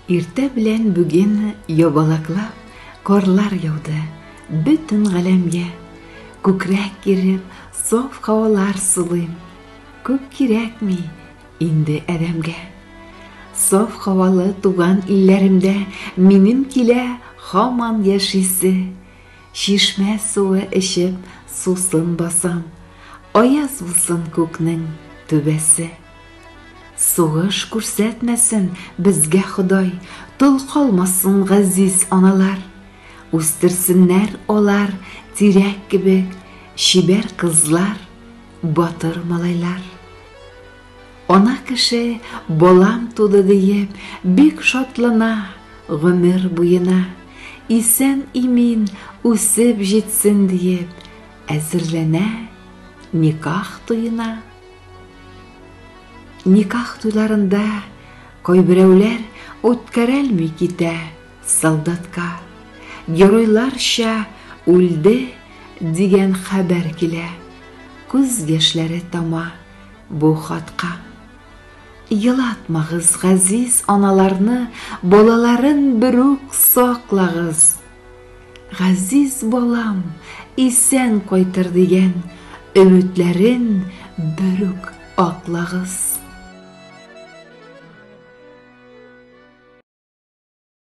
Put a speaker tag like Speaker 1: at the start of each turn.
Speaker 1: Иртә белән бүген ябалаклап карлар яуды бөтен галәмгә. Күкрәк киреп, саф һавалар сулыйм. Күп кирәкми инде адәмгә. Саф һавалы туган илләремдә минем килә һаман яшисе. Чишмә суы эчеп, сусын басам. Аяз булсын күкнең түбәсе. Сугыш күрсәтмәсен безгә Ходай, Тол калмасын газиз аналар. Үстерсеннәр алар тирәк кебек Чибәр кызлар, батыр малайлар. Ана кеше балам туды диеп Бик шатлана гомер буена. Исән-имин үсеп җитсен диеп Әзерләнә никах туена. Никах туйларында кайберәүләр үткәрәлми китә солдатка. Геройларча үлде дигән хәбәр килә. Күз яшьләре тама бу хатка. Елатмагыз газиз аналарны, балаларын берүк саклагыз. Газиз балам исән кайтыр дигән өметләрен берүк аклагыз.